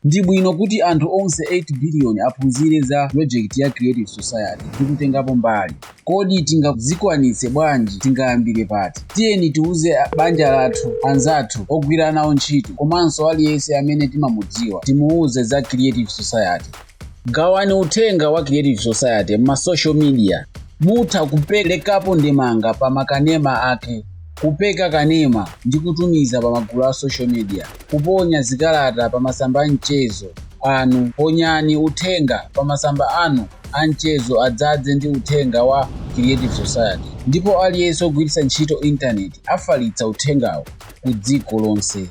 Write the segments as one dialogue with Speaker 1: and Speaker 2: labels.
Speaker 1: Ndi bwino kuti anthu onse 8 biliyoni aphunzire za pulojekiti ya Creative Society ndi kutengapo mbali. Kodi tingazikwanitse bwanji? Tingayambire pati? Tiyeni tiuze banja lathu, anzathu, ogwira nawo ntchito komanso aliyense amene timamudziwa timuuze za Creative Society. gawani uthenga wa creative society m'ma social media mutha kuperekapo ndemanga pa makanema ake kupeka kanema ndi kutumiza pa magulu a social media kuponya zikalata pa masamba a mchezo anu ponyani uthenga pa masamba anu a mchezo adzadze ndi uthenga wa creative society ndipo aliyense ogwiritsa ntchito intaneti afalitsa uthengawo ku dziko lonse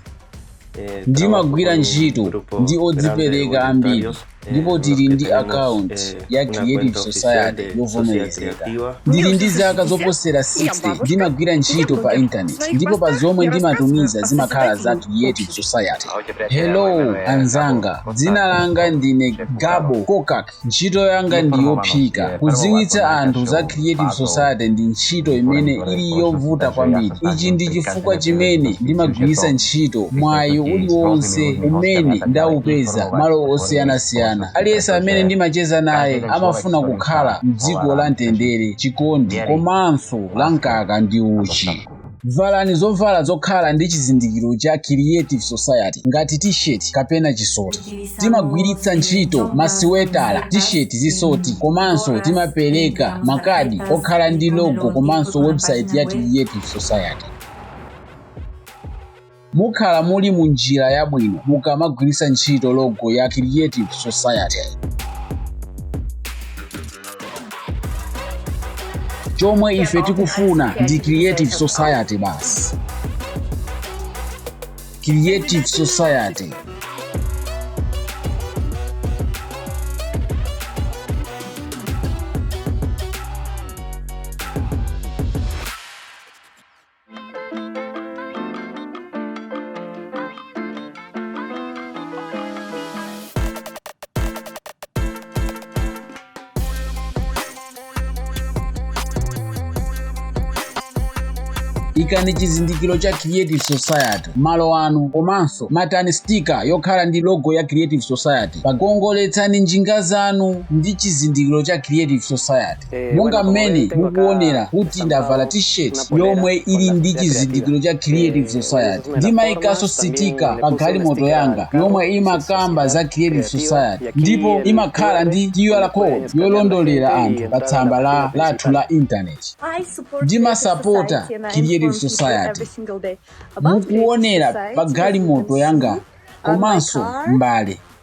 Speaker 1: ndimagwira ntchito ndi odzipereka ambiri ndipo tili ndi akaunti ya creative society yovomerezeka ndili ndi zaka zoposera 60 ndimagwira ntchito pa intaneti ndipo pa zomwe ndimatumiza zimakhala za creative society hello anzanga dzina langa ndine gabo kokak Ntchito yanga ndi yophika. Kudziwitsa anthu za Creative Society ndi ntchito imene ili yovuta kwambiri. Ichi ndi chifukwa chimene ndimagwiritsa ntchito mwayi uliwonse umene ndaupeza malo osiyanasiyana. Aliyense amene ndimacheza naye amafuna kukhala m'dziko la mtendere, chikondi, komanso la mkaka ndi uchi. Valani zovala zokhala ndi chizindikiro cha Creative Society ngati t-shirt kapena chisoti. Timagwiritsa ntchito masiwetala, t-shirt, zisoti komanso timapereka makadi okhala ndi logo komanso website ya Creative Society. Mukhala muli mu njira yabwino mukamagwiritsa ntchito logo ya Creative Society. Chomwe ife tikufuna ndi Creative Society basi. Creative Society. ikani chizindikiro cha creative society malo anu komanso matani stika yokhala ndi logo ya creative society pagongoletsani njinga zanu ndi chizindikiro cha creative society monga mmene mukuonera kuti ndavala t-shirt yomwe ili ndi chizindikiro cha creative society ndimayikanso sitika pa galimoto yanga yomwe imakamba za creative society ndipo imakhala ndi qr code yolondolera anthu pa tsamba lathu la intaneti ndimasapota creative society mukuonera pa galimoto yanga komanso mbale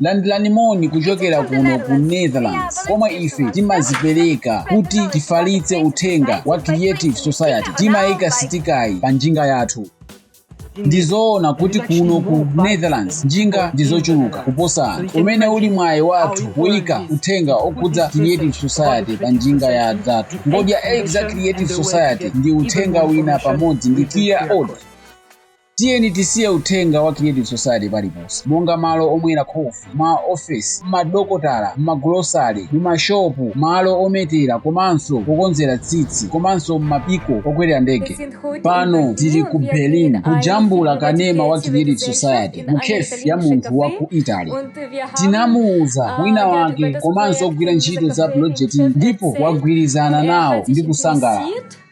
Speaker 1: landirani moni kuchokera kuno ku netherlands komwe ife timazipereka kuti tifalitse uthenga wa creative society timayika sitikayi pa njinga yathu ndizoona kuti kuno ku netherlands njinga ndizochuluka kuposa anthu umene uli mwayi wathu kuyika uthenga okhudza creative society pa njinga ya zathu ngodya 8 za creative society ndi uthenga wina pamodzi ndi qr code Tiyeni tisiye uthenga wa Creative Society paliponse, monga malo omwera khofi, ma ofesi, mmadokotala, mmagulosale, mumashopu, malo ometera komanso okonzera tsitsi, komanso mmabwalo okwerera ndege. Pano tili ku Berlin kujambula kanema wa Creative Society mu cafe ya munthu wa ku Italy. Tinamuuza mwini wake komanso ogwira ntchito za pulojetiyi ndipo wagwirizana nawo ndi kusangalala.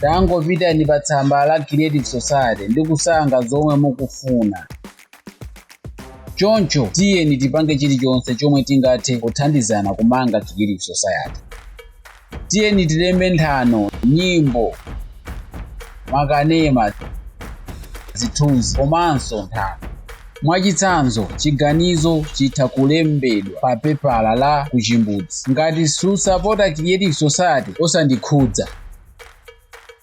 Speaker 1: tangopitani pa tsamba la creative society ndi kusankha zomwe mukufuna choncho tiyeni tipange chilichonse chomwe tingathe kuthandizana kumanga creative society tiyeni tilembe nthano nyimbo makanema zithunzi komanso nthano Mwachitsanzo, chiganizo chitha kulembedwa pa pepala la kuchimbudzi ngati susapota Creative Society, osandikhudza.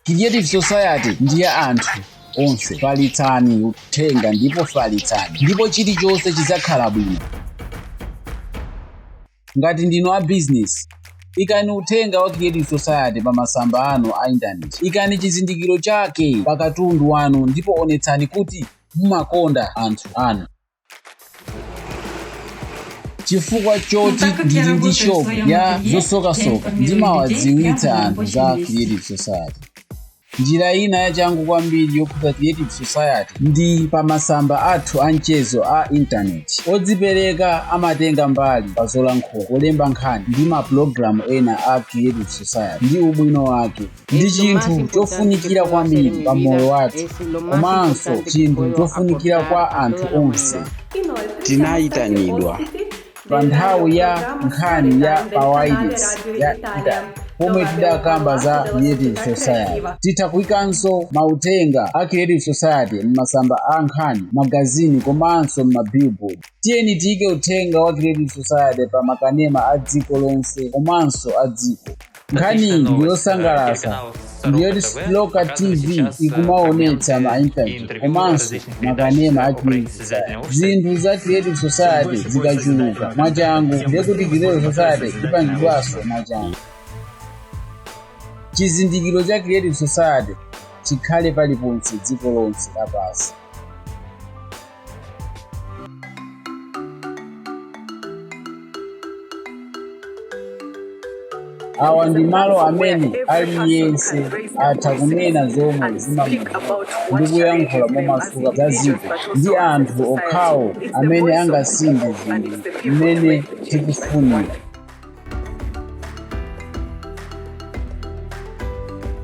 Speaker 1: Creative Society ndi ya anthu onse. Falitsani uthenga ndipo falitsani ndipo chilichonse chidzakhala bwino. Ngati ndinu a bizinesi, ikani uthenga wa Creative Society pa masamba anu a intaneti. Ikani chizindikiro chake pa katundu wanu ndipo onetsani kuti mumakonda anthu anu. Chifukwa choti ndili ndi shop ya zosokasoka, ndimawadziwitsa anthu za Creative Society. Njira ina yachangu kwambiri yokhudza Creative Society ndi pa masamba athu a mchezo a intaneti. Odzipereka amatenga mbali pa zolankhula, kulemba nkhani, ndi mapulogalamu ena a Creative Society ndi ubwino wake. Ndi chinthu chofunikira kwambiri pa moyo wathu komanso chinthu chofunikira kwa anthu onse. Tinayitanidwa pa nthawi ya nkhani ya pawailesi ya italy pomwe tidakamba za creative society titha kuikanso mauthenga a creative society m'masamba a nkhani magazini komanso m'mabillboard tiyeni tiyike uthenga wa creative society pa makanema a dziko lonse komanso a dziko nkhani yosangalatsa ndi yoti local tv ikumaonetsa ma interview komanso makanema a creative society zinthu za creative society zikachuluka mwachangu ndekuti creative society ipangidwanso mwachangu chizindikiro cha creative society chikhale paliponse dziko lonse lapansi awa ndi malo amene aliyense atha kunena zomwe zimamuvuta ndi kuyankhula momasuka za dziko ndi anthu okhawo amene angasinthe zinthu mmene tikufunira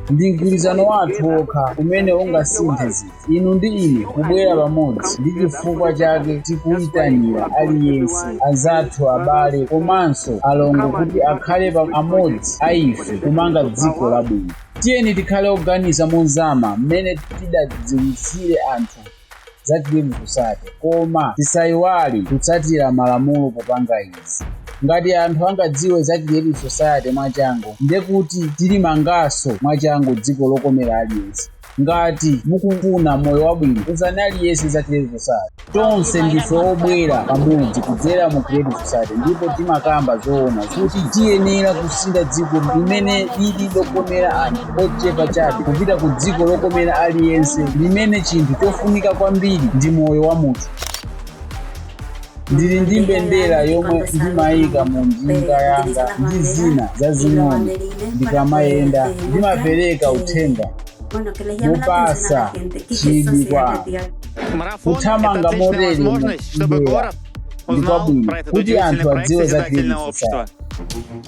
Speaker 1: ndi mgwirizano wathu wokha umene ungasinthe zinthu inu ndi ine kubwera pamodzi ndi chifukwa chake tikuyitanira aliyense anzathu abale komanso alongo kuti akhale amodzi a ife kumanga dziko labwino tiyeni tikhale oganiza mozama mmene tingadziwitsire anthu za creative society koma tisaiwale kutsatira malamulo popanga izi ngati anthu angadziwe za creative society mwachangu ndekuti tilimanganso mwachangu dziko lokomera aliyense ngati mukufuna moyo wabwino uzani aliyense za creative society tonse ndife obwera pamodzi kudzera mu creative society ndipo timakamba zoona kuti tiyenera kusintha dziko limene lili lokomera anthu ochepa chabe kupita ku dziko lokomera aliyense limene chinthu chofunika kwambiri ndi moyo wa munthu ndili ndi mbendera yomwe ndimayika mu njinga yanga ndi zina zazing'ono ndikamayenda ndimapereka uthenga mopatsa chidwi kwa kuthamanga motere ndi mbendera ndi kwabwino kuti anthu adziwe za creative